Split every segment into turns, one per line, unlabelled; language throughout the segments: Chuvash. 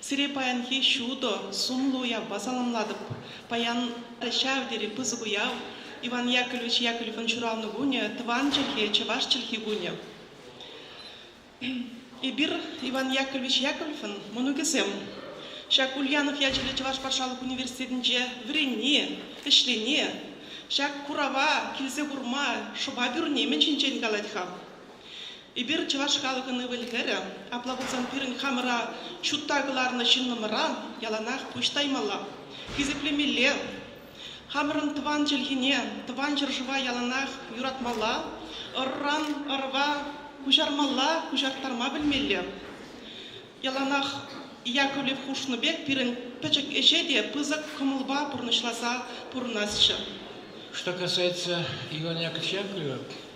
Сире паянхи ҫутӑ, сумлӑ уявпа саламлатӑп. Паян ҫав тери пысӑк уяв, Иван Яковлевич Яковлевӑн ҫуралнӑ кунӗ, тӑван чӗлхе, чӑваш чӗлхи кунӗ. Эпир, Иван Яковлевич Яковлевӑн мӑнукӗсем. Ҫак Ульянов ячӗллӗ чӑваш патшалӑх университетӗнче вӗренни, ӗҫлени, ҫак курава килсе курма, шӑпа пӳрни мӗн ҫинчен калать-ха? Эпир, чӑваш халӑхӑн ывӑл-хӗрӗ, апла пулсан пирӗн хамӑра ҫутта кӑларнӑ ҫыннӑмӑра яланах пуҫ таймалла, хисеплемелле. Хамӑрӑн тӑван чӗлхене, тӑван ҫӗршыва яланах юратмалла, ырран ырва куҫармалла, куҫарттарма пӗлмелле. Яланах Яковлев хушнӑ пек пирӗн пӗчӗк ӗҫе те пысӑк кӑмӑлпа пурнӑҫласа пурӑнасчӗ. Что
касается Ивана Яковлева,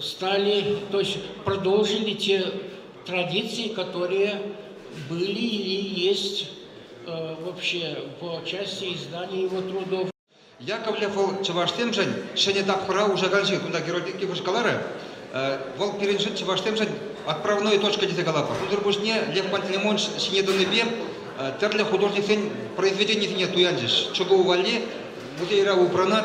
стали, то есть продолжили те традиции, которые были и есть вообще по части издания его трудов. Яковлев
чӑвашсемшӗн ҫӗнӗ тапхӑра уҫаканҫи кунта Геродик Иваш каларӗ. Вӑл пирӗншӗн чӑвашсемшӗн отправной точка тесе калатпӑр. Унсӑр пуҫне Лев Пантелеймонович ҫине тӑнипе тӗрлӗ художниксен произведенийӗсене туянчӗҫ. Чӑкӑу валли музейра упранать.